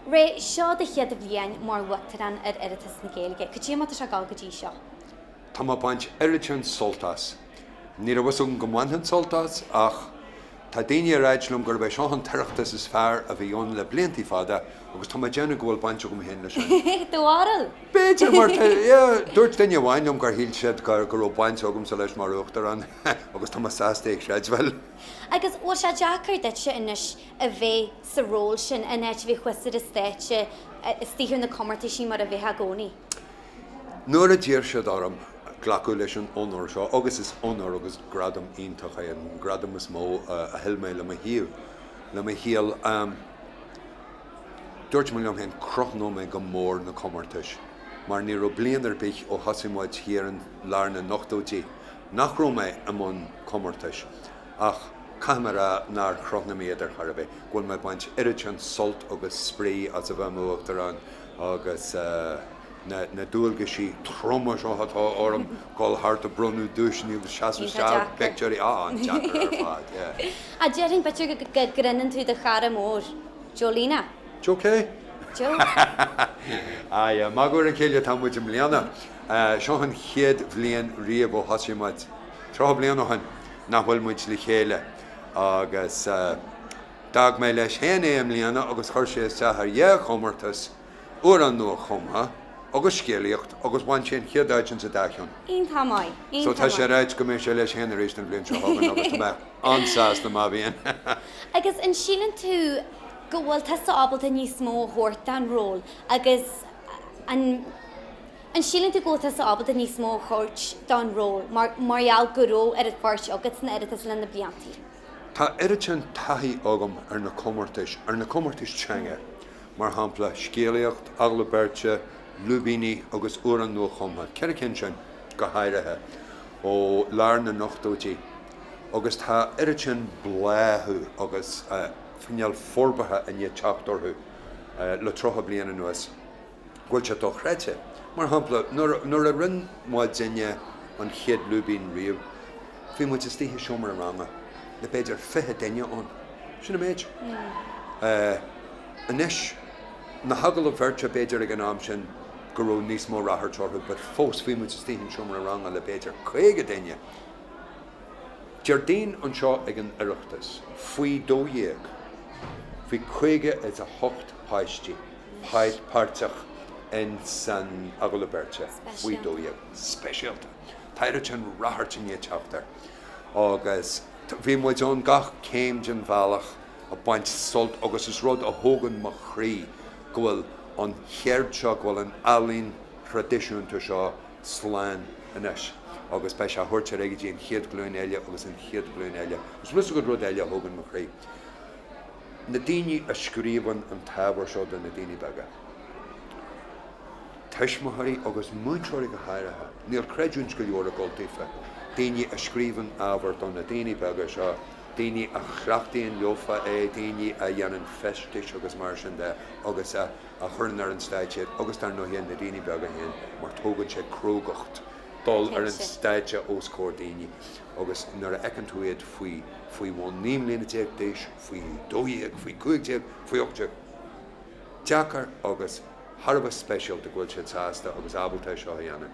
Ré, seo do chéad bhliain mar Uachtarán ar Oireachtas na Gaeilge. Cad é mar atá sé ag gabháil go dtí seo? Tá mé ag baint oiread sin sult as. Ní raibh fhios agam go mbainfinn sult as ach Tá daoine ag ráit liom gurb é seo an tOireachtas is fearr a bhí ann le bliantaí fada agus tá mé ag déanamh go bhfuil baint agam féin leis. An do bharúil? B'fhéidir, mar tá, yeah, dúirt duine amháin liom gur shíl siad go raibh baint agamsa leis mar Uachtarán agus tá mé sásta é a chreidbheáil. Agus bhfuil sé deacair duitse anois a bheith sa ról sin, an áit a mbíodh tusa ar an stáitse, istigh ar na comórtaisí mar a bheadh i gcónaí? Nuair a d'iarr siad orm glacadh leis an onóir seo, agus is onóir agus gradam iontach é, an gradam is mó a thuill mé le mo shaol, le mo shaol, dúirt mé liom féin, crothnóidh mé go mór na comórtais, mar ní raibh bliain ar bith ó thosaigh muid thiar i lár na n-ochtóidí nach raibh mé i mbun comórtais. Ach caithfidh mé a rá nár chrothnaigh mé iad ar chor ar bith go bhfuil mé ag baint oiread sin sult agus spraoi as a bheith i m'Uachtarán agus na dualgaisí troma seo atá orm, dul thart ag bronnadh duaiseanna agus seasamh isteach ag poictiúirí. Á, an-deacair ar fad, yeah. Á, déarfainn beagnach go gcreideann tú do chara mór, Joe Lena. Joe cé? Joe. Á, yeah, magadh ar a chéile atá muid i mbliana. Seo an chéad bhliain riamh ó thosaigh muid Tríocha bliain ó shin, nach bhfuil muid le chéile, agus d'fhág mé leis féin é i mbliana agus chuir sé isteach ar dhá chomórtas, amhrán nua-chumtha agus scéalaíocht, agus bhain sé an chéad áit insa dá cheann. Iontach maith, iontach maith. So tá sé ráite go mbeidh sé leis féin arís an bhliain seo chugainn agus tá mé an-sásta má bhíonn. Agus an síleann tú go bhfuil tusa ábalta níos mó a thabhairt don ról agus an. An síleann tú go bhfuil tusa ábalta níos mó a thabhairt don ról mar gheall go raibh oiread páirt agat san Oireachtas le na blianta? Tá oiread sin taithí agam ar na comórtais, ar na comórtais teanga, mar shampla, scéalaíocht, agallamh beirte, lúibíní agus amhráin nuachumtha, ceithre cinn sin, go háirithe, ó lár na n-ochtóidí, agus tá oiread sin bláthú agus fíneál forbartha i ndiaidh teacht orthu le tríocha bliain anuas. go bhfuil sé dochreidte. Mar shampla, nuair a rinne muidinne an chéad lúibín riamh, bhí muid istigh i seomra ranga le b'fhéidir fiche duine ann. Sin an méid. Anois, na hagallaimh bheirte, b'fhéidir ag an am sin go raibh níos mó ráchairt orthu, but fós bhí muid istigh i seomra ranga le b'fhéidir caoga duine. Déardaoin anseo ag an Oireachtas, faoi dó dhéag, bhí caoga is a hocht páistí. Cáit páirteach in san agallamh beirte faoi dó dhéag. Speisialta. Tá oiread sin ráchairt i ndiaidh teacht air agus bhí muid ann gach céim den bhealach ag baint sult agus is rud a thógann mo chroí go bhfuil an cheird seo, go bhfuil an ealaín thraidisiúnta seo slán anois agus beidh sé á thabhairt ar aghaidh go dtí an chéad ghlúin eile agus an chéad ghlúin eile. Is rud eile a thógann mo chroí. Na daoine a scríobhann an t-ábhar seo do na daoine beaga, tuismitheoirí agus múinteoirí go háirithe, níl creidiúint go leor ag dul daofa, daoine a scríobhann ábhar do na daoine beaga seo, daoine a chleachtaíonn leofa é, daoine a dhéanann feistis agus mar sin de agus a chuireann ar an stáitse iad agus dar ndóighe na daoine beaga féin mar tógann sé crógacht dul ar an stáitse os comhair daoine. Agus nuair a fheiceann tú iad faoi, faoi bhun naoi mbliana déag d'aois, faoi dó dhéag, faoi chúig déag, faoi ocht déag, deacair agus thar a bheith speisialta go bhfuil siad sásta agus ábalta é seo a dhéanamh.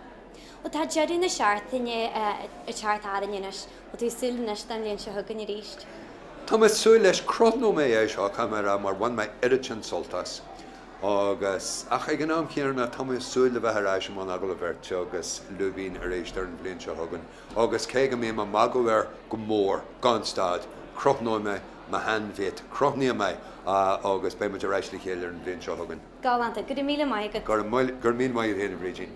Bhuel, tá deireadh na seachtaine ag teacht tharainn anois. Bhfuil tú ag súil anois don bhliain seo chugainn arís? Tá mé ag súil leis. Crothnóidh mé é seo, caithfidh mé a rá, mar bhain mé oiread sin sult as. Agus, ach ag an am chéanna, tá mé ag súil le bheith ar ais i mbun agallaimh bheirte agus lúibín arís ar an bhliain seo chugainn. Agus cé go mbím ag magadh air go mór, gan stad, crothnóidh mé mo shean-mhate, crothnaím é, agus beidh muid ar ais le chéile ar an bhliain seo chugainn. Galánta. Go raibh míle maith agat. Go raibh míle maith agat féin, a Bhrídín.